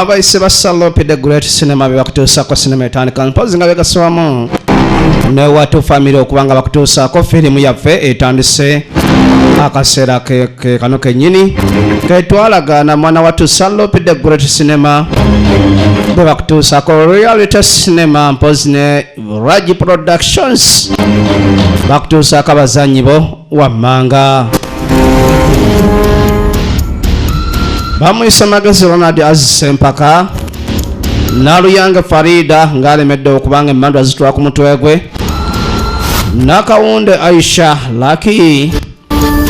abayise ba salope the great cinema bebakutuusako sinema etandika mpozi nga begaswamu newatu famiry okuba nga bakutuusaako firimu yaffe etandise akaseera kekano kenyini ketwalagaana mwana watu salope the great cinema bebakutuusako reality cinema mpozi ne ragi productions bakutuusaako abazanyi bo wammanga bamuyise magezi ronald azise empaka naluyange farida ng'alemedde okubanga emmandu azitula ku mutwe gwe nakawunde aisha laki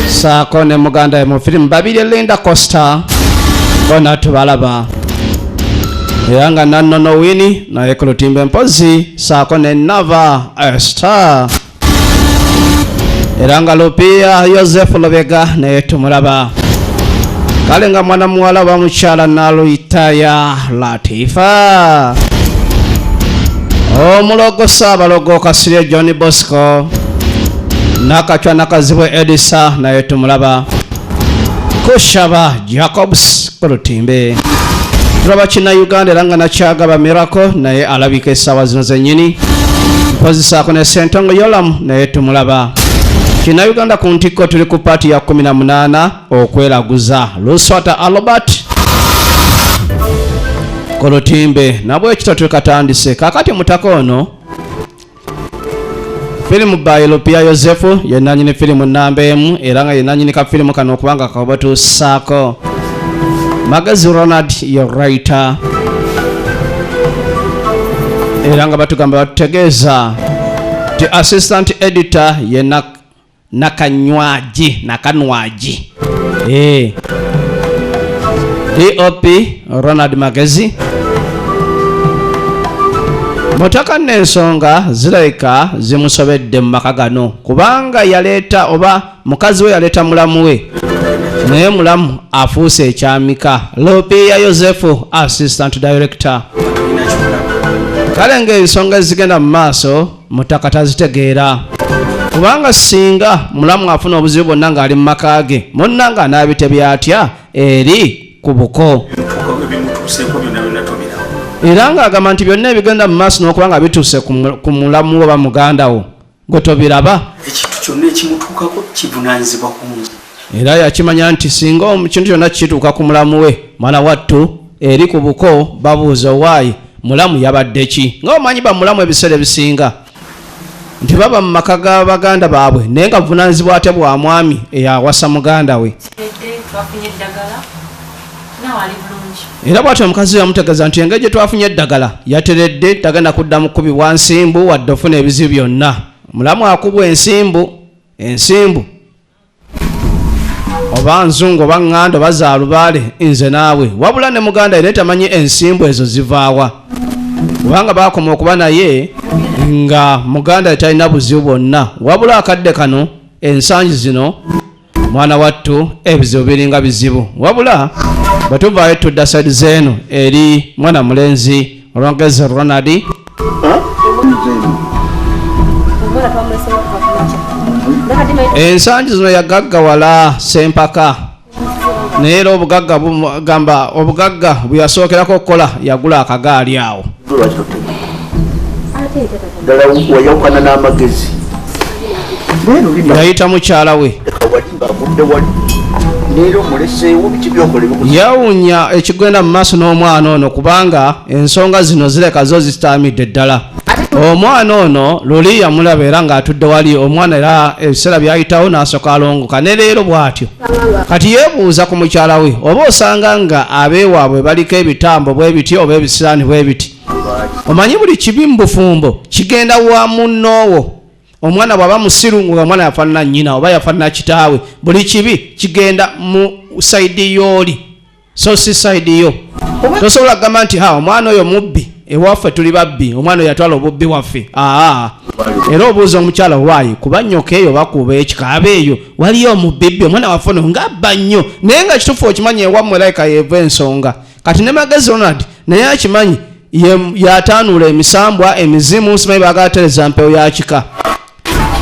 saako ne muganda ye mu firimu babiri linda costa bona tubalaba era nga nannono wini naye ku lutimbe mpozi saako ne nava star era nga lupiya yosefu lubega naye tumulaba kale nga mwana muwala wa mukyala naluyitaya latifa omulogo saabalogo kasirye john bosco nakacwa nakazibwe edisa naye tumulaba kushaba jacobs olutimbe tulaba kinnayuganda era nga nakyagaba miracle naye alabika essaawa zino zennyini mpozisaako ne sentongo yolamu naye tumulaba kinnayuganda ku ntikko tuli ku paati ya 18 okwelaguza luswata albert ku lutimbe nabwekityo tulikatandise kakati mutaka ono firimu by lupia yosefu yenanyini firimu namba emu era nga yenanyini ka firimu kano okubanga kabatuusaako magazi ronald ye writer era nga batugamba batutegeeza ti assistant editor yena Nakanywaji, Nakanwaji. Eh. DOP Ronald Magezi. Mutaka n'ensonga zirabika zimusobedde mu maka gano kubanga yaleeta oba mukazi we yaleeta mulamu we naye mulamu afuuse ekyamika lopiya yosefu assistant director kale ng'ensonga ezigenda mu maaso mutaka tazitegeera kubanga singa mulamu afuna obuzibu bwonna ng'ali mu maka ge munna nga anaabitebya atya eri ku buko era ng'agamba nti byonna ebigenda mu maaso n'okuba nga bituuse ku mulamu oba muganda wo gwe tobiraba ekintu kyonna ekimutuukako kivunanyizibwa kungi era yakimanya nti singa ekintu kyonna kituuka ku mulamu we mwana wattu eri ku buko babuuza owaayi mulamu yabadde ki nga omanyi bamulamu ebiseera ebisinga nti baba mu maka ga baganda baabwe naye nga buvunanyizibwa ate bwa mwami eyawasa muganda we era bwatyo omukazi yamutegeeza nti engeri gye twafunye eddagala yateredde tagenda kuddamu kukubibwa nsimbu wadde ofuna ebizibu byonna mulamu akubwa ensimbu ensimbu oba nzungu oba ŋŋanda oba zaalubaale nze naawe wabula ne muganda yena tamanyi ensimbu ezo zivaawa kubanga baakoma okuba naye nga muganda ye talina buzibu bwonna wabula akadde kano ensangi zino mwana wattu ebizibu biringa bizibu wabula bwe tuvaayo tudda saidi zeeno eri mwana mulenzi Rogers Ronald ensangi zino yagaggawala sempaka naye era obugagga gamba obugagga bweyasookerako okukola yagula akagaali awo yayita mukyala we yawunya ekigenda mu maaso n'omwana ono kubanga ensonga zino zireka zo zitaamidde ddala omwana ono luli yamulaba era ng'atudde wali omwana era ebiseera byayitawo n'asooka alongoka ne leero bw'atyo kati yeebuuza ku mukyala we oba osanga nga abeewaabwe baliko ebitambo bwe biti oba ebisiraani bwe biti omanyi buli kibi mu bufumbo kigenda wa munnoowo omwana bwaba musiru nga omwana yafanana nyina oba yafanana kitaawe buli kibi kigenda mu saidi yooli so si saidi yo tosobola kugamba nti ha omwana oyo mubbi ewaffe tuli babbi omwana oyo yatwala obubbi waffe aa era obuuza omukyala waayi kuba nyoka eyo bakuuba ekikaaba eyo waliyo omubibbi omwana waffe ono nga abba nnyo naye nga kitufu okimanyi ewammwe layika yeeva ensonga kati ne magezi ronald naye akimanyi yatanuula emisambwa emizimu simanyi bagalatereza mpewo yakika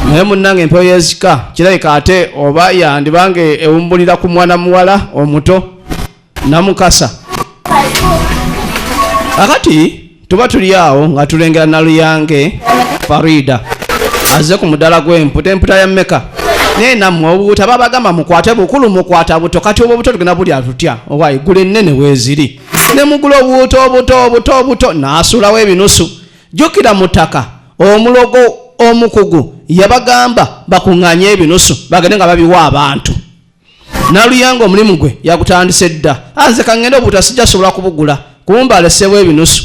naye munnanga empewo yezika kirabika ate oba yandibanga ewumbulira ku mwana muwala omuto namukasa akati tuba tuli awo nga tulengera naluyange farida aze ku mudala gw'emputa emputa ya meka naye nammwe obubuta babagamba mukwate bukulu mukwata buto kati obwo obuto tugenda bulya tutya owa igulu ennene weeziri ne mugula obuuto obuto obuto obuto naasuulawo ebinusu jjukira mu ttaka omulogo omukugu yabagamba bakuŋŋanye ebinusu bagende nga babiwa abantu naluyanga omulimu gwe yagutandise dda anze ah, kangende obuta sijja sobola kubugula kumba alesewo ebinusu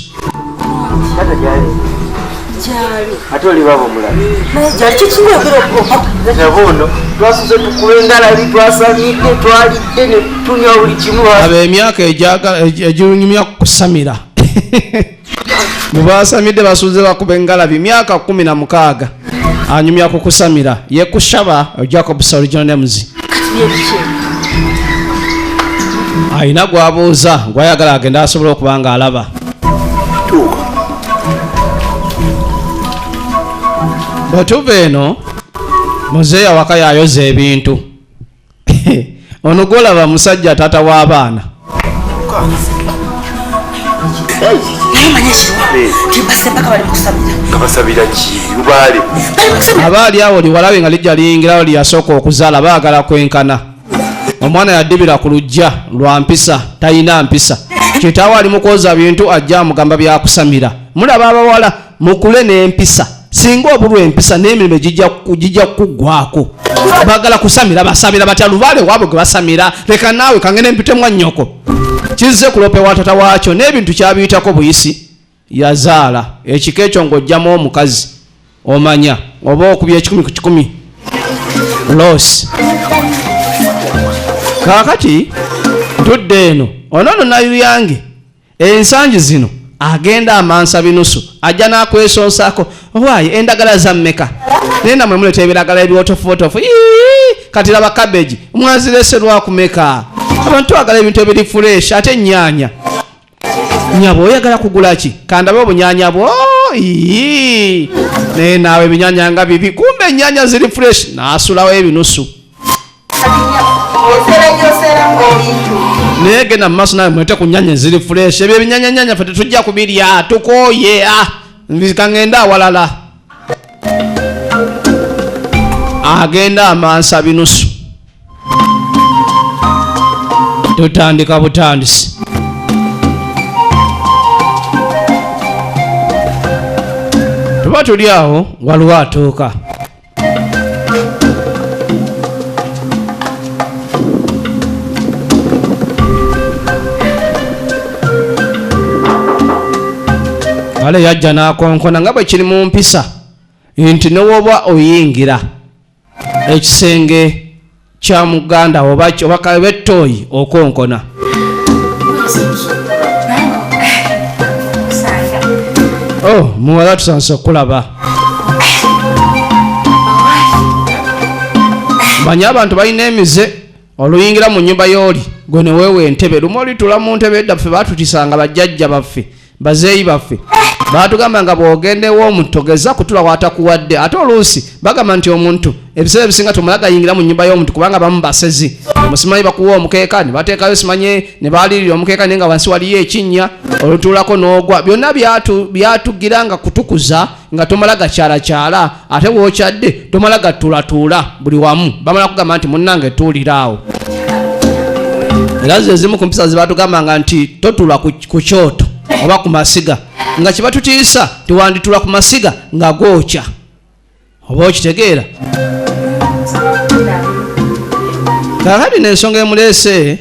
ate olibabo mulabnabuno twasuze tukuba engalabi twasamidde twalidde netunywa buli kimu abo emyaka eginyumya kusamira mubaasamidde basuuze bakuba engalabi myaka kumi na mukaaga anyumya ku kusamira ye kushaba jacob soriginal names alina gwabuuza gwayagala agende asobola okuba nga alaba bwetuva eno muzeeyi awaka yayoza ebintu ono gwolaba musajja taata w'abaana aba ali awo liwalabe nga lijja liyingirawo lyeyasooka okuzaala baagala kwenkana omwana yadibira ku lujja lwa mpisa talina mpisa kitaawo ali mukwoza bintu ajja amugamba byakusamira mulaba abawala mukule n'empisa singa obulwa empisa n'emirimu gijja kukuggwako bagala kusamira basamira batya lubaale waabwe gwe basamira leka naawe kange nempitemwa nnyoko kizze kulope wa tata waakyo n'ebintu kyabiyitako buyisi yazaala ekika ekyo ng'ojjamu omukazi omanya oba okubya ekikumi ku kikumi losi kaakati ntudde eno onoono nayuyange Ensangi zino agenda amansa binusu ajja nakwesonsako owaaye endagala zammeka naye namwe muleta ebiragala ebyotofuotofu kati laba kabeji mwazirese lwakumeka abantu agala ebintu ebiri fureshi ate ennyanya nyabo oyagala kugula ki kandabe obunyanya bwo naye naawe ebinyanya nga bibi kumbe ennyanya ziri fureshi nasulawo ebinusu naye genda mu maaso nawe mwete ku nyanya eziri fureshi ebyo ebinyanyanyanya fe tetujja kubirya tukooye ah, kangende awalala agenda amansa binusu tutandika butandisi tuba tuli awo waliwo atuuka kale yajja n'akonkona nga bwe kiri mu mpisa nti newooba oyingira ekisenge kya muganda oba oba kabe toyi okonkona oh muwala tusanse okulaba manyi abantu balina emize oluyingira mu nyumba yooli gwe neweewa entebe lumu olitula mu ntebe edda ffe batutisanga bajjajja baffe bazeeyi baffe batugamba nga bwogenda ew'omuntu togeza kutula watakuwadde ate oluusi bagamba nti omuntu ebiseera ebisinga tomala gayingira mu nyumba y'omuntu kubanga bamu basezi musimanyi bakuwa omukeeka ne bateekayo simanyi ne baalirira omukeeka naye nga wansi waliyo ekinnya olutuulako n'ogwa byonna byatugira nga kutukuza nga tomala gakyalakyala ate wokyadde tomala gatuulatuula buli wamu bamala kugamba nti munnange tuuliraawo era zo ezimu ku mpisa zebatugambanga nti totula ku kyoto oba ku masiga nga kibatutiisa tiwanditula ku masiga nga gookya oba okitegeera kakati nensonga emuleese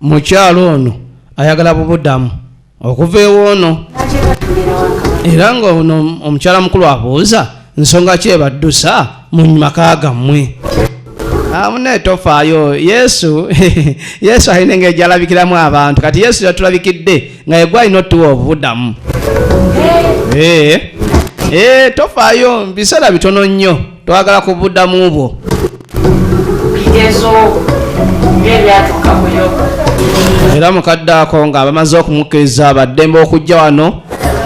mukyalo ono ayagala bubudamu okuva ewoono era nga ono omukyala mukulu abuuza nsonga ki ebaddusa mu maka gammwe amune tofaayo yesu yesu alina engeri gyalabikiramu abantu kati yesu yatulabikidde nga yegwe alina otuwa obubudamu eh, eh, tofaayo biseera bitono nnyo twagala ku buddamu bwo bigezo ng'ebyatuuka mu yoga era mukadde ako nga bamaze okumukkiriza baddembe okujja wano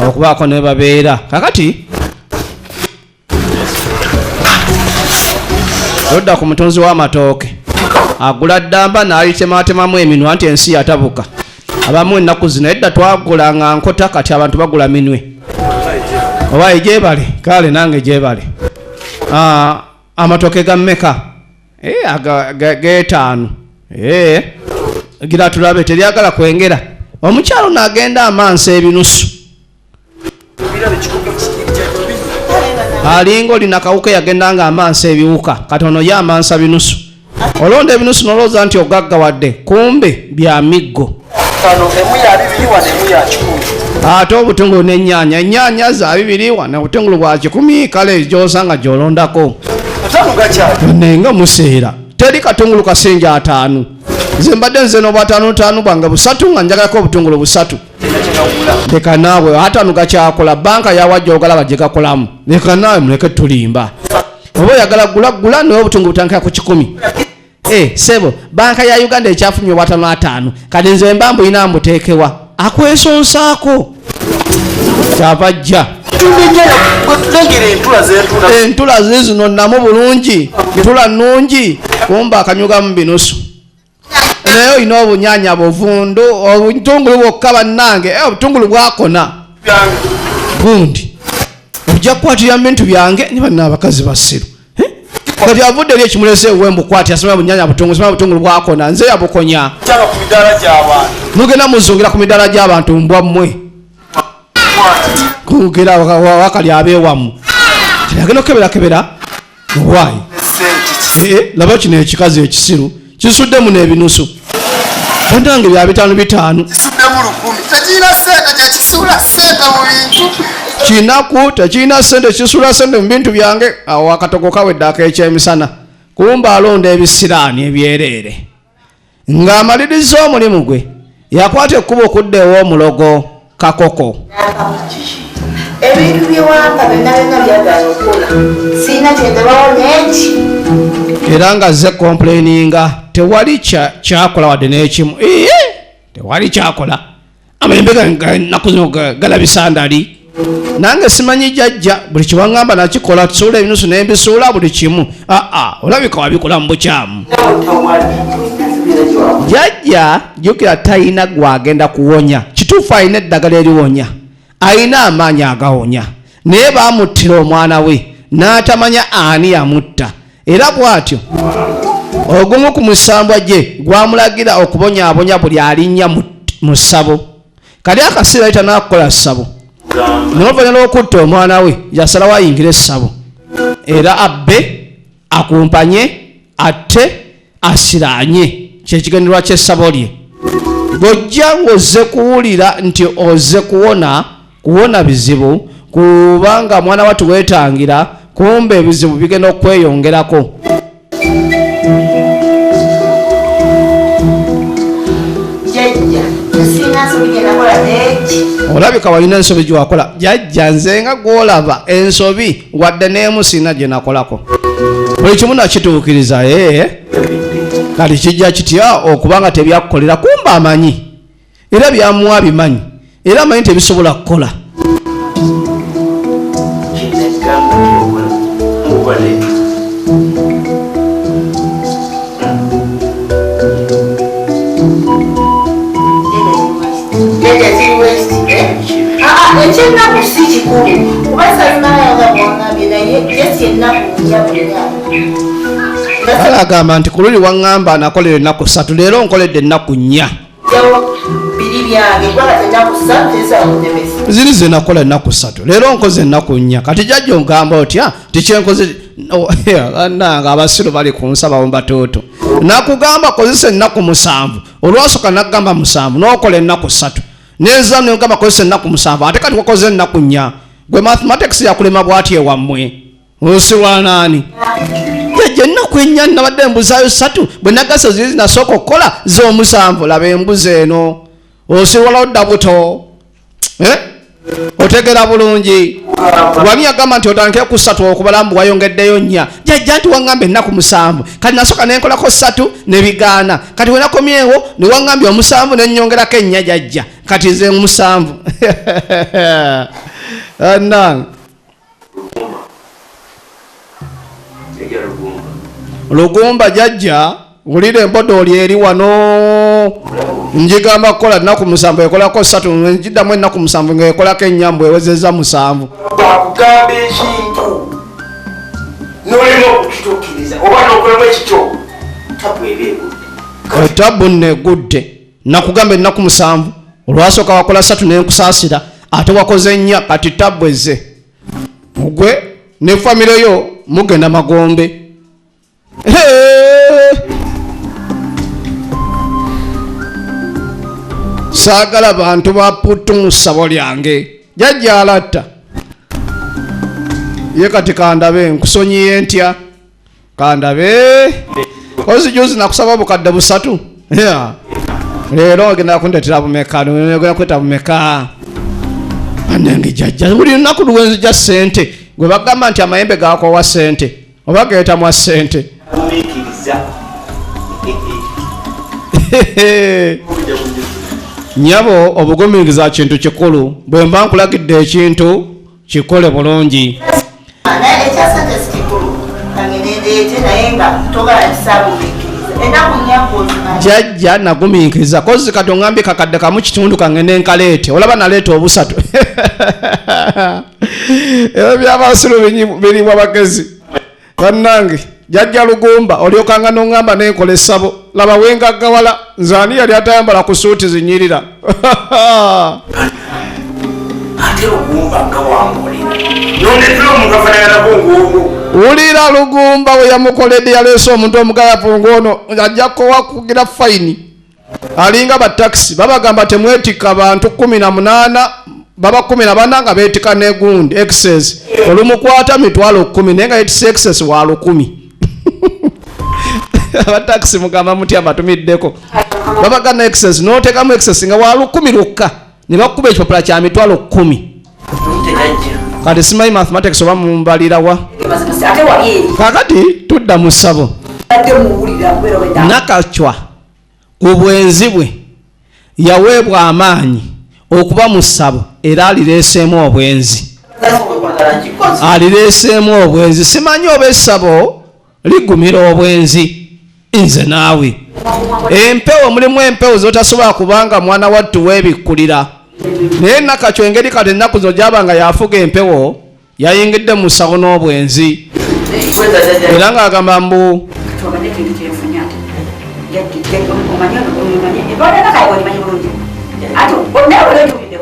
okubaako ne babeera kakati odda ku mutunzi w'amatooke agula ddamba n'alitematemamu eminwa nti ensi yatabuka abamu ennaku zino edda twagula nga nkota kati abantu bagula minwe oba egyebale kale nange egyebale ah, amatoke ga meka eh, getaano eh, gira tulabe teryagala kwengera omukyalo nagenda amansa ebinusu alinga olina kawuka yagenda nga amansa ebiwuka kati ono ye amansa binusu olonda ebinusu nolowooza nti ogagga wadde kumbe bya miggo ate obutungulu nenyanya enyanya za bibiri wana obutungulu bwa kikumi kale gyosanga gyolondako nenga museera teri katungulu kasinja ataanu nze mbadde nze nobwataanutaanu bwange busatu nga njagalako obutungulu busatu leka naawe ate ano gakyakola banka yawajja ogalaba gye gakolamu leka naawe muleke tulimba oba oyagala gula gula naye obutungu butandikira ku kikumi eh, sebo banka ya uganda ekyafumya obwatano ataano kati nze mba mbulina mbuteekewa akwesonsaako kyava jja entula zizino namu bulungi ntula nungi kumba akanyugamu binusu naye olina obunyanya buvundu obutungulu bwokka bannange eh, obutungulu bwakona gundi ojja kukwatira bintu byange ni banna abakazi basiru eh? kati avudde eri ekimulese ewe mbukwati asoma bunyanya butungulu soma butungulu bwakona nze yabukonya mugenda muzungira ku midaala gy'abantu mbwa mmwe kugera wakali abeewamu agenda okukeberakebera why eh, laba kino ekikazi ekisiru kisuddemu n'ebinusu entange bya bitaano bitaano kinaku tekirina sente kisula sente mu bintu byange awo akatogo kawedde ak'ekyemisana kumba alonda ebisiraani ebyereere Ng'amaliriza omulimu gwe yakwata ekkubo okudda ew'omulogo kakoko ebintu byewanga byonna byonna byagala okola sirina kyendabawo neki era nga ze complaininga tewali kyakola wadde n'ekimu iye tewali kyakola amayembe nakuno galabisa ndali nange simanyi jajja buli kiwangamba nakikola tusuula ebinusu nembisuula buli kimu aa olabika wabikola mu bukyamu jajja jukira talina gwagenda kuwonya kituufu alina eddagala eriwonya alina amaanyi agawonya naye baamuttira omwana we n'atamanya ani yamutta era bw'atyo ogumu ku musambwa gye gwamulagira okubonyaabonya buli alinnya mu ssabo kali akasiira yita n'akukola ssabo noluvannyuma lw'okutta omwana we yasalawo ayingire essabo era abbe akumpanye atte asiranye kyekigendererwa kyessabo lye gojja ng'ozze kuwulira nti ozze kuwona kuwona bizibu kubanga mwana watu weetangira kumba ebizibu bigenda okukweyongerako olabika walina ensobi gyewakola jajja nze nga gwolaba ensobi wadde n'emu sirina gye nakolako buli kimu nakituukiriza ee eh? kati kijja kitya okuba nga tebyakukolera kumba amanyi era byamuwa bimanyi era amanyi tebisobola kukola ekyennaku si kikulu kuba salinayanga bwangambye naye jesi ennaku njabuliaa agamba nti ku luli waŋŋamba nakola ennaku ssatu leero nkoledde ennaku nnya ziri zenakola ennaku ssatu leero nkoze ennaku nnya kati jajja ogamba otya tikyenkoze nange abasiru bali kunsabawo mbatuutu nakugamba kozesa ennaku musanvu olwasoka nakugamba musanvu nokola ennaku ssatu neza nogamba kozesa ennaku musanvu ate kati wakoze ennaku nnya gwe mathematics yakulema bwati ewammwe ose wanaani jajja ennaku ennya nabadde embuzaayo satu bwe nagasa ziri zinasooka okukola z'omusanvu laba embuzi eno osiwala odda buto eh? otegera bulungi wami agamba nti otandike ku satu okubala mbu wayongeddeyo nnya jajja nti waŋŋamba ennaku musanvu kati nasooka ne nkolako satu ne bigaana kati wenakomyewo ne waŋŋambye omusanvu ne nnyongerako ennya jajja kati nze musanvu anange lugumba jajja wulira embodooli eri wano njigamba kukola nnaku musanvu ekolako satu njiddamu ennaku musanvu ngaekolako enyambu ewezeza musanvu bakugamba ekintu nolina okukitukiriza oba nokolamu ekikyo tabu eba egudde tabu negudde nakugamba ennaku musanvu olwasooka wakola satu nenkusaasira ate wakoze nnya kati tabbu ezze gwe ne famire yo mugenda magombe saagala bantu baputtu mu ssabo lyange jajja alatta ye kati kandabe nkusonyiye ntya kandabe ozi juzi nakusaba bukadde busatu leero ogenda kundetera bumeka ogenda kweta bumeka anange jajja buli lunaku luwenzija sente gwe bagamba nti amayembe gakowa sente oba geetamwa sente nyabo obugumiriza kintu kikulu bwemba nkulagidde ekintu kikole bulungi jajja nagumiikiriza kozi kati ongambye kakadde kamu kitundu kange nenkaleete olaba naleeta obusatu ebyo byabasiru birimu abagezi bannange jajja lugumba olyokanga noŋŋamba nenkola essabo laba wengaggawala nze ani yali atayambala ku suuti zinyirira wulira lugumba weyamukoledde yaleese omuntu omugayavu ng'ono ajja kukugira fayini alinga ba taxi babagamba temwetika bantu 18 baba 14 nga betika ne gund excess olumukwata mitwalo 10 naye nga yetisa excess wa 10 aba taxi mugamba muti amatumiddeko babaga na excess notekamu excess nga wa 10 lukka ne bakuba ekipapula kya mitwalo 10 kati simanyi mathematics oba mumbalirawa kakati tudda mu ssabo nakacwa mu bwenzi bwe yaweebwa amaanyi okuba mu ssabo era alireeseemu obwenzi alireeseemu obwenzi simanyi oba essabo ligumira obwenzi nze naawe empewo mulimu empewo zotasobola kubanga mwana wattu webikkulira naye nakakyo engeri kati ennaku zo gyabanga yafuga empewo yayingidde mu sawo n'obwenzi era ng'agamba mbu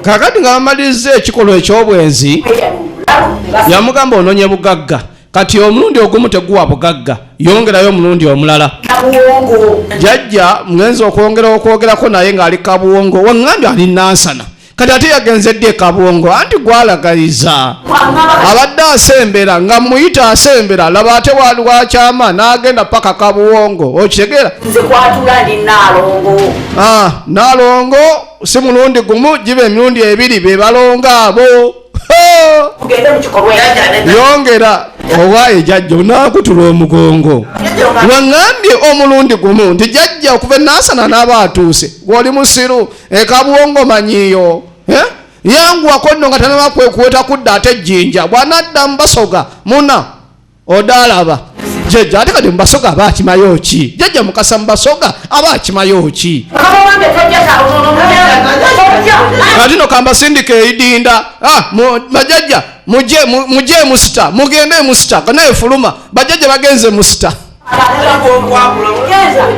kakati nga bamalirizza ekikolwa eky'obwenzi yamugamba ononye bugagga kati omulundi ogumu teguwa bugagga yongerayo omulundi omulala jajja mugenzi okwongera okwogerako naye ng'ali kabuwongo waŋŋambye ali nansana kati ate yagenze ddi ekabwongo anti gwalagaliza abadde asembera nga muyita asembera laba ate waliwakyama n'agenda paka kabuwongo okitegeera ah, nalongo si mulundi gumu giba emirundi ebiri bebalonga abo yongera owaaye jajja onaakutula omugongo waŋambye omulundi gumu nti jajja okuva enaasana n'aba atuuse gwoli musiru ekabwongo manyiyo eh? yanguwako nno nga tanaba kwekuweta kudda ate ejjinja bwanadda mubasoga muna odaalaba jjajja ate kati mubasoga aba akimayo ki jjajja mukasa mubasoga aba akimayo ki kati no kambasindika eidinda ah, bajajja muje musita mugende musita naye fuluma bajajja bagenze musita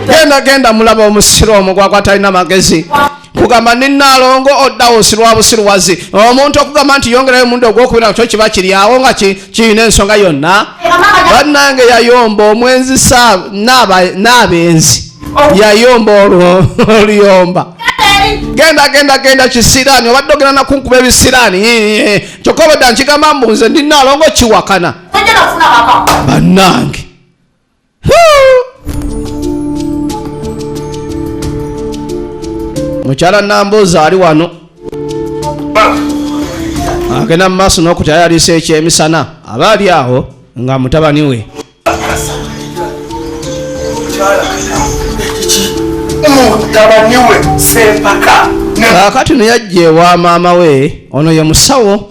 genda genda mulaba omusiru omu gwagwa talina magezi kugamba ninaalongo oddawo osirwa busiruwazi omuntu okugamba nti yongerayo omundi ogwokubira kyo kiba kiryawo nga kirina ensonga yonna bannange yayomba omwenzi n'abenzi yayomba olwo oluyomba genda genda genda kisiraani obadde ogenda nakunkuba ebisiraani kyokka obadde nkigamba mbu nze ndi naalongo kiwakana bannange mukyala namboozi ali wano agenda mu maaso n'okutayalisa ekyemisana aba ali awo nga mutabani we kakati noyajja ewa maama we ono ye musawo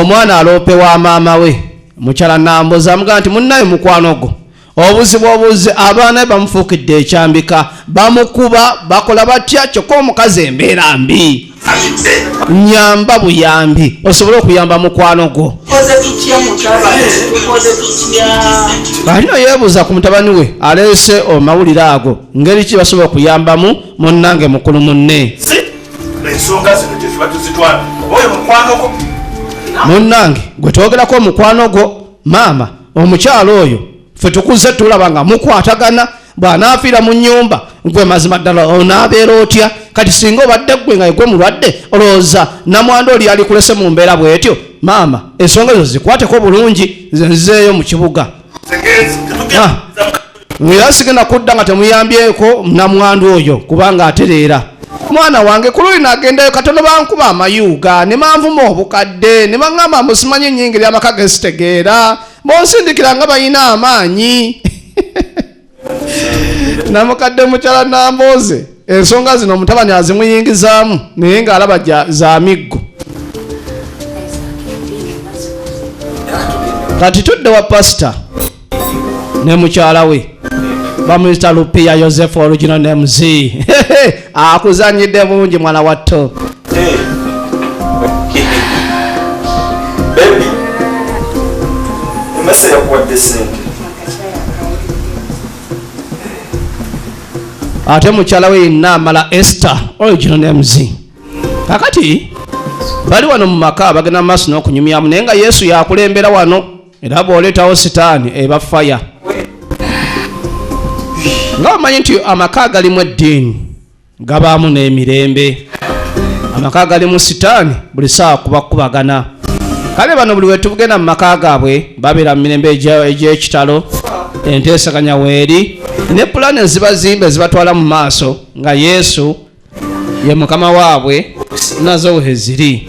Omwana aloope wa maama we mukyala Nambozi amugamba nti munnaye mukwano gwo obuzibu obuzi abaana be bamufuukidde ekyambika bamukuba bakola batya kyokka omukazi embeera mbi nyamba buyambi osobole okuyamba mukwano gwo alino yeebuuza ku mutabani we aleese omawulire ago ngeri ki basobola okuyambamu munnange mukulu munne ensonga zino gyetuba tuzitwala oyo mukwano gwo munnange gwe twogerako omukwano gwo maama omukyalo oyo fe tukuze tulaba nga mukwatagana bw'anaafiira mu nnyumba gwe mazima ddala onaabeera otya kati singa obadde gwe nga egwe mulwadde olowooza namwanda oli alikulese mu mbeera bw'etyo maama ensonga ezo zikwateko bulungi nze nzizeeyo mu kibuga ah. era sigenda kudda nga temuyambyeko namwandu oyo kubanga atereera mwana wange ku luli nagendayo katono bankuba amayuuga ne manvuma obukadde ne baŋŋamba musimanyi enyingeri amaka ge zitegeera bonsindikira nga balina amaanyi namukadde mukyala nambooze ensonga zino omutabani azimuyingizaamu naye ng'alaba za miggo kati tudde wa pasita ne mukyala we bamuyita lupiya yosefu original mz akuzanyidde bungi mwana wa to ate mukyala we yenna amala ester original names kakati bali wano mu maka bagenda mu maaso n'okunyumyamu naye nga yesu yakulembera wano era bw'oleetawo sitaani eba faya nga omanyi nti amaka agalimu eddiini gabaamu n'emirembe amaka agalimu sitaani buli saawa kubakubagana kale bano buli wetugenda mu maka gaabwe babeera mu mirembe egy'ekitalo enteesaganya weeri ne pulaani ezibazimba ezibatwala mu maaso nga yesu ye mukama waabwe nazo weheziri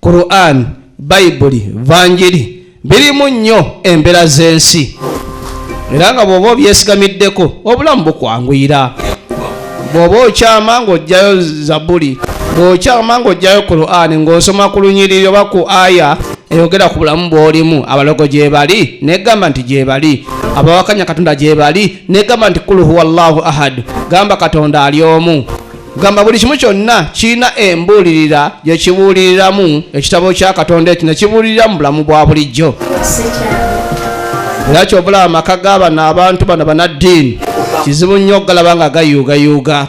Quran, Bayibuli, Vanjiri birimu nnyo embeera z'ensi era nga bw'oba obyesigamiddeko obulamu bukwanguyira bw'oba okyama ng'ojjayo zabuli bw'okyama ng'ojjayo Quran ng'osoma ku lunyiriri oba ku aya eyogera ku bulamu bw'olimu abalogo gyebali negamba nti gyebali abawakanya katonda gyebali negamba nti kuluhuwallahu ahad gamba katonda ali omu gamba buli kimu kyonna kirina embuulirira gye kibuuliriramu ekitabo kya katonda ekyo ne kibuulirira mu bulamu bwa bulijjo era kyobulaba amaka g'abano abantu bano banaddiini kizibu nnyo okugalaba nga gayuugayuuga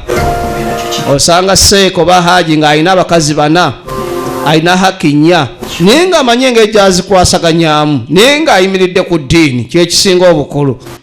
osanga seeko oba haaji ng'alina abakazi bana alina haki nnya naye ng'amanyi engeri gyazikwasaganyamu naye ng'ayimiridde ku ddiini kyekisinga obukulu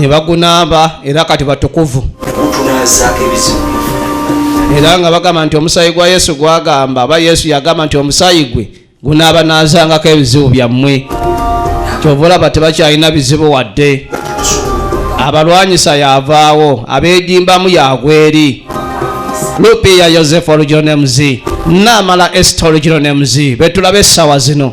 ne bagunaaba era kati batukuvu gutunaazaako ebizibu era nga bagamba nti omusaayi gwa yesu gwagamba aba yesu yagamba nti omusaayi gwe gunaabanaazangako ebizibu byammwe kyova olaba tebakyalina bizibu wadde abalwanyisa yavaawo abeegimbamu yagweri lupiya yosefu olugironemuzi naamala esita olugironemuzi betulaba essaawa zino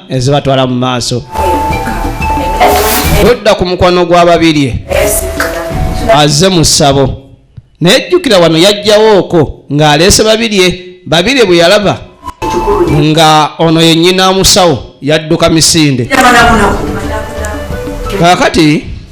ezibatwala mu maaso todda ku mukwano gwa babirye aze mu ssabo naye jjukira wano yajjawooko ng'aleese babirye babirye bwe yalaba nga ono yennyina musawo yadduka misinde kakati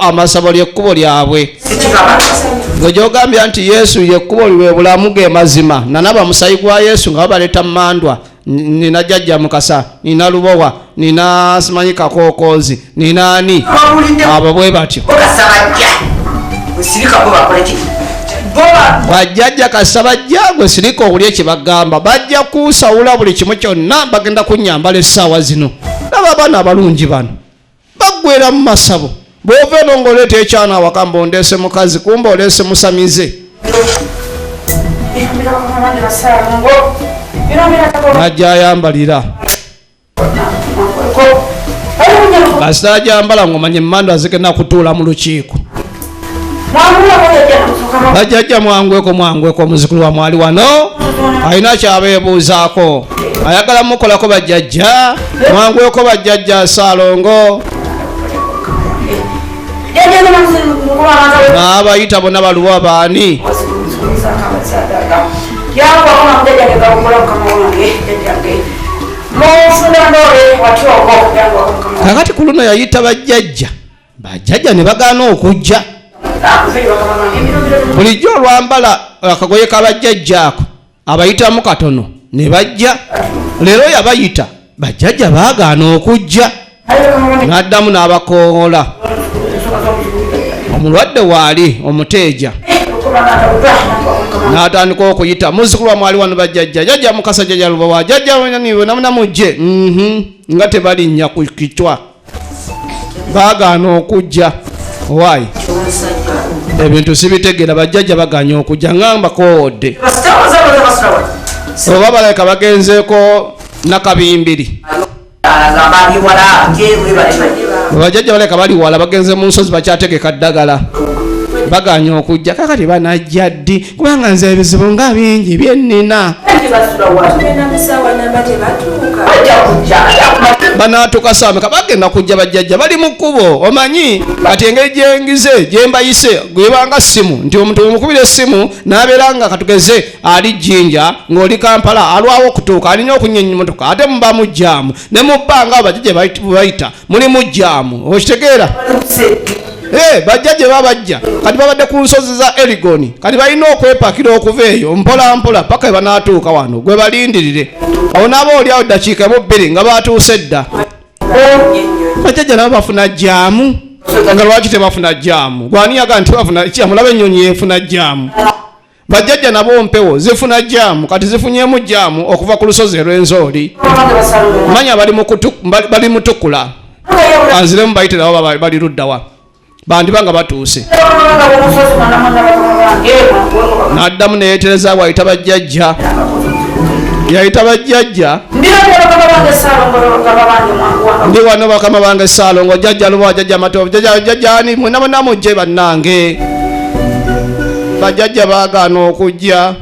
amasabo lyekkubo lyabwe gwe gyogambya nti yesu yekkubo lwe bulamu ge mazima nanaba musayi gwa yesu nga babaleta mumandwa nina jajja mukasa nina lubowa nina simanyi kakokozi nina ani abo bwe batyo bajjajja kasa bajja gwe sirika owuli ekyebagamba bajja kusawula buli kimu kyonna bagenda kunyambala essaawa zino naba abaana abalungi bano baggwera mu masabo bw'ova eno ng'oleeta ekyana awaka mba ondeese mukazi kumba oleese musamize najja ayambalira kasita ajambala ng'omanya emmando azigenda kutuula mu lukiiko bajjajja mwangweko mwangweko omuzukulu wa mwali wano alina kyabeebuuzaako ayagala mukolako bajjajja mwangweko bajjajja saalongo naabayita bona baluwa baani kakati ku luno yayita bajjajja bajjajja ne bagaana okujja bulijjo olwambala akagoye kabajjajja ako abayitamu katono ne bajja leero yabayita bajjajja baagaana okujja n'addamu n'abakoowola omulwadde waali omuteeja n'atandika okuyita muzukulu wamwali wano bajjajja jajja mukasa jajja lubawa jajja wenaniwe namunamujje mhm. nga tebalinnya ku kitwa baagaana okujja owaayi ebintu sibitegeera bajjajja baganye okujja ngamba koodde oba balabika bagenzeeko nakabimbiri bajjajja balabika bali wala bagenze mu nsozi bakyategeka ddagala baganye okujja kakati banajja ddi kubanga nze ebizibu nga bingi byennina banaatuka saameka bagenda kujja bajjajja bali mu kkubo omanyi kati engeri gyengize gyembayise gwebanga ssimu nti omuntu omukubira essimu n'abeera nga katugeze ali jjinja ng'oli kampala alwawo okutuuka alina okunyenyimotoka ate mubamujjaamu ne mu bbanga bajja gye bayita mulimu jaamu okitegeera eh, bajja gye babajja kati babadde ku nsozi za erigoni kati balina okwepakira okuva eyo mpola mpola paka we banaatuuka wano gwe balindirire awo naaba oliawo ddakiika emu bbiri nga baatuuse dda bajjajja nabo bafuna jaamu nga lwaki tebafuna jaamu gwaniyaga nti bafuna jaamu laba ennyonyi yefuna jaamu bajjajja nabo mpewo zifuna jaamu kati zifunyemu jaamu okuva ku lusozi erwenzooli manya bali mutukula anziremu bayitirawo bali luddawa bandiba nga batuuse naddamu neyetereza wayita bajjajja yayita bajjajja ndi wano bakama bange saalongo jajja lubawa jajja matovu jajja jajjani mwenabonamujje bannange bajjajja baagaana okujja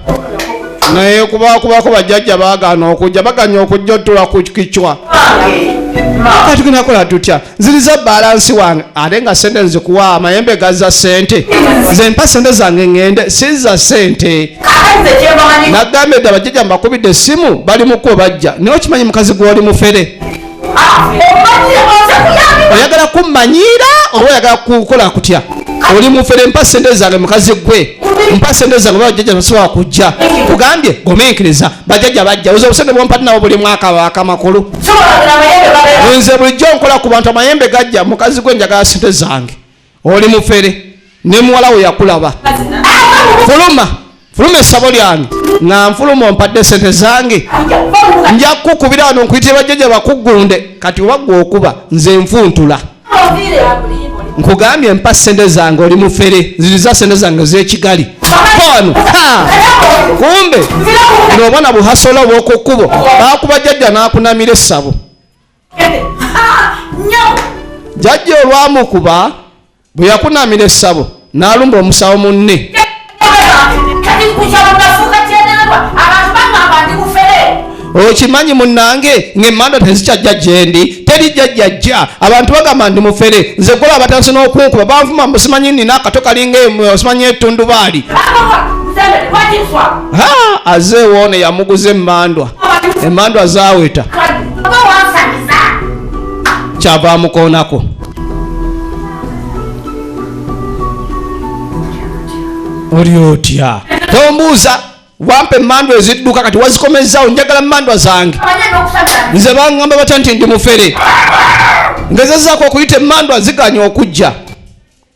naye kubakubako bajjajja baagaana okujja baganya okujja otula ku kicwa kati kunakola tutya ziriza balansi wange ate nga sente nzikuwa amayembe gaza sente nze mpa sente zange ŋŋende siza sente nagambye dda bajjajja mbakubidde essimu bali mukuba bajja naye okimanyi mukazi gwoli mufere oyagala kummanyiira oba oyagala kukola kutya oli mufere mpa sente zange mukazi gwe mpa sente zange oba bajjajja basobola kujja kugambye gomenkiriza bajjajja bajja oza obusente bwompati nabo buli mwaka baka makulu nze bulijjo nkola ku bantu amayembe gajja mukazi gwe njagala sente zange oli mufere ne muwala wo yakulaba fuluma fuluma esabo lyange nga nfuluma ompadde sente zange nja kukubira wano nkuyitire bajjaja bakuggunde kati wagwa okuba nze nfuntula nkugambye mpa sente zange oli mufere ziriza sente zange zekigali wano kumbe nobona buhasola obwokukubo bakuba jajja nakunamira esabo jajja olwamukuba bwe yakunamira essabo n'alumba omusawo munne okimanyi munange ng'emmanda tezikyajja gyendi teri jjajjajja abantu bagamba ndi mufere nze gwola abatandise n'okunkuba banvuma musimanyi nina akato kalinga osimanyi etundubaali azeewoone yamuguza emmandwa emmandwa zaaweta kyava amukoonako oli otya tombuuza wampa emandwa ezidduka kati wazikomezzawo njagala mandwa zange nze bangamba batya nti ndi mufere ngezezaako okuyita emandwa ziganya okujja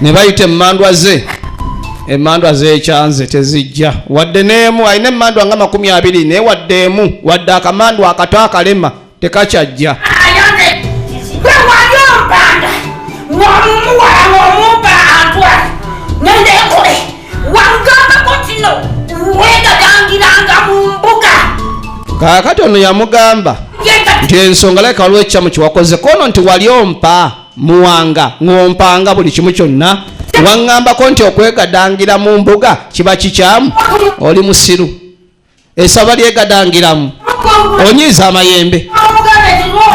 ne bayita emmandwa ze emmandwa zekyanze tezijja wadde n'emu alina emmandwa nga makumi abiri naye wadde emu wadde akamandwa akato akalema tekakyajja wangambako kino wegagangiranga mu mbuga kaakati ono yamugamba nti ensonga leka waliwo ekikyamu kyewakoze kono nti wali ompa muwanga ng'ompanga buli kimu kyonna waŋŋambako nti okwegadangira mu mbuga kiba kikyamu oli musiru esaba lyegadangiramu onyiiza amayembe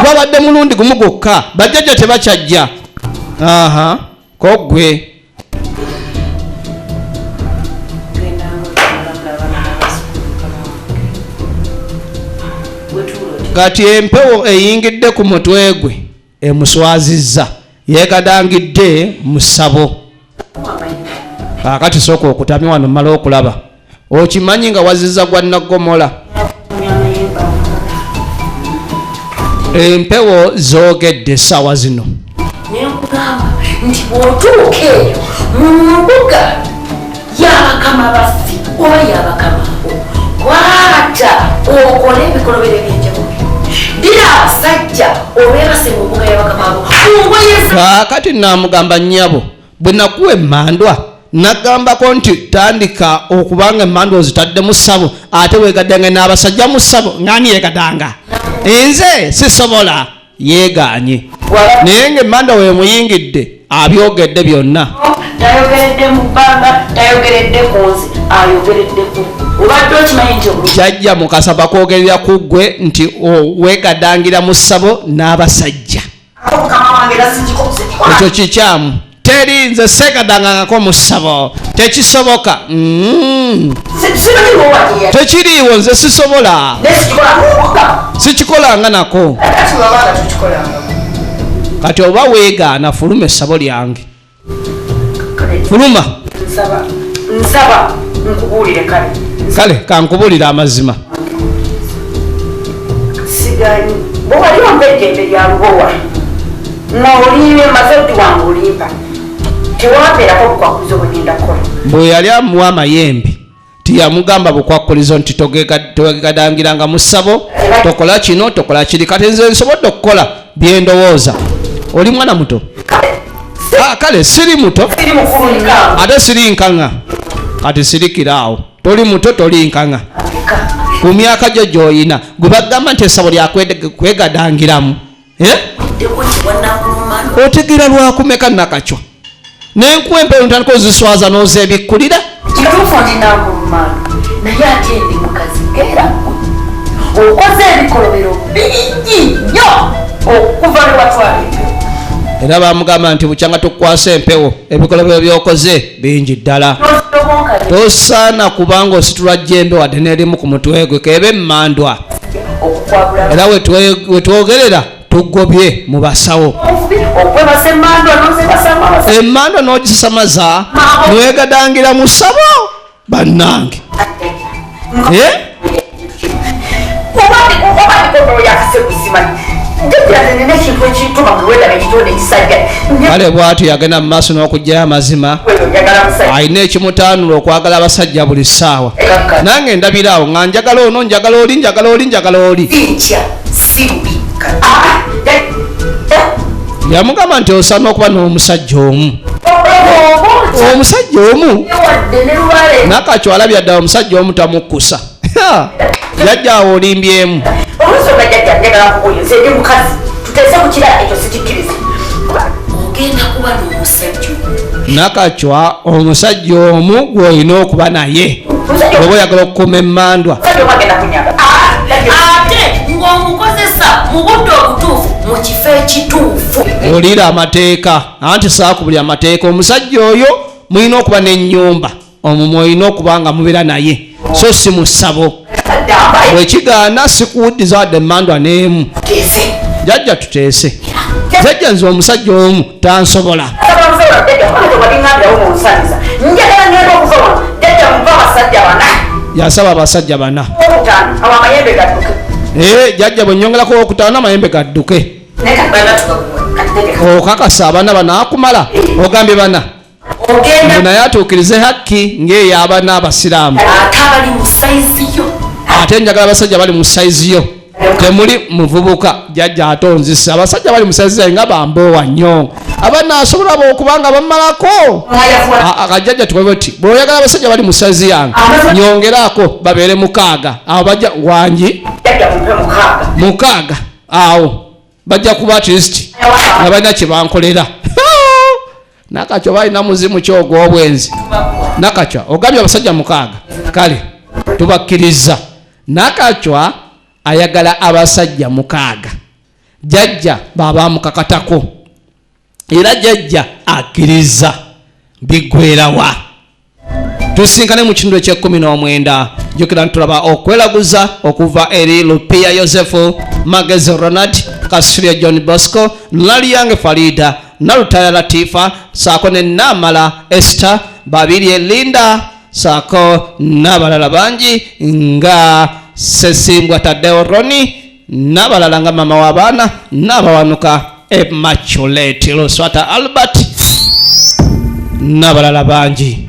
gwabadde mulundi gumu gwokka bajjajja tebakyajja aha kogwe kati empewo eyingidde ku mutwe gwe emuswazizza yegadangidde mu ssabo kaakati sooka okutamye wano mala okulaba okimanyi nga waziza gwa naggomola empewo zoogedde essaawa zino nti bwotuuka eyo mu mbuga yabakama baffe oba yabakama kwata okole ebikolobero ebyenjawulo dira abasajja obebase mu mbuga yabakamabo kakati namugamba nyabo bwe nakuwa emandwa nagambako nti tandika okubanga emandwa ozitadde mu ssabo ate wegadanga n'abasajja mu ssabo ngani yegadanga nze sisobola yeegaanye naye ng'emmanda we muyingidde abyogedde byonna tayogeredde mu bbanga tayogeredde ku nzi ayogeredde ku obadde okimanyi nti jajja mukasa bakwogerera ku ggwe nti weegadangira mu ssabo n'abasajja ekyo kikyamu teri nze segadangangako mu ssabo tekisoboka mm. tekiriiwo nze sisobola sikikolanga nako kati oba weegaana fuluma essabo lyange fuluma kale kankubulire amazima bwewali ombedde emberyalubowa bwe yali amuwa amayembe tiyamugamba bukwakkulizo nti togegadangira nga musabo tokola kino tokola kiri kati nze nsobodde okukola byendowooza oli mwana muto ah, kale siri muto ate siri nkaŋa kati sirikira awo toli muto toli nkaŋa ku myaka gyo gyoyina gwe bagamba nti esabo lyakwegadangiramu otegera lwakumeka nakakyo nenkuwa empewo ntandika oziswaza nozebikkulira kituufu ndinakulumano naye ate ndi mukazi era okoze ebikolobero bingi nnyo okuva lwewatwala empewo era bamugamba nti bukyanga tukwasa empewo ebikolobero byokoze bingi ddala tosaana kubanga ositula jjembe wadde nerimu ku mutwe gwe keebe emmandwa era wetwogerera tugobye mu basawo emmandwa n'ogisasamaza newegadangira mu ssabo bannange eh? kale bwatyo yagenda mu maaso n'okugyayo amazima alina ekimutaanula okwagala abasajja buli ssaawa nange ndabira awo nga njagala ono njagala oli njagala oli njagala oli yamugamba nti osana okuba n'omusajja omu omusajja omu nakacwala byadda omusajja omu tamukkusa yajja awo olimbyemu nakacwa omusajja omu gwolina okuba naye oba oyagala okukuuma emmandwa ekituufu wulira amateeka anti saaku buli amateeka omusajja oyo mulina okuba n'ennyumba omumwe olina okuba nga mubeera naye so si mu ssabo bwekigaana sikuwuddiza wadde emandwa n'emu jajja tuteese jajja nze omusajja omu tansobola yasaba abasajja bana eh, jajja bwenyongerako okutaano amayembe gadduke okakasa abana banakumala ogambye bana ogenda naye atuukirize hakki ng'eyaba n'abasiraamu ate abali mu sayizi yo ate njagala abasajja bali mu sayizi yo temuli muvubuka jajja atonzisa abasajja bali musayizi zaye nga bamboowa nnyo abana asobola bokubanga bamalako akajajja tukobe ti bweoyagala abasajja bali musayizi yange nyongeraako babeere mukaaga abo bajja wangi mukaaga awo bajja kuba at least nga balina kye bankolera nakacwa balina muzimu ki ogw'obwenzi nakacwa ogambye abasajja mukaaga kale tubakkirizza nakacwa ayagala abasajja mukaaga jajja baabamukakatako era jajja akkiriza biggwerawa tusinkane mu kitundu ekyekumi n'omwenda jukira ntulaba okwelaguza okuva eri lupiya yosefu magezi ronald kasuria john bosco laliyange farida nalutaya latifa saako ne namala ester babiri elinda saako n'abalala bangi nga sesimbwa tadeo roni n'abalala nga maama w'abaana n'abawanuka emaculate luswata albert n'abalala bangi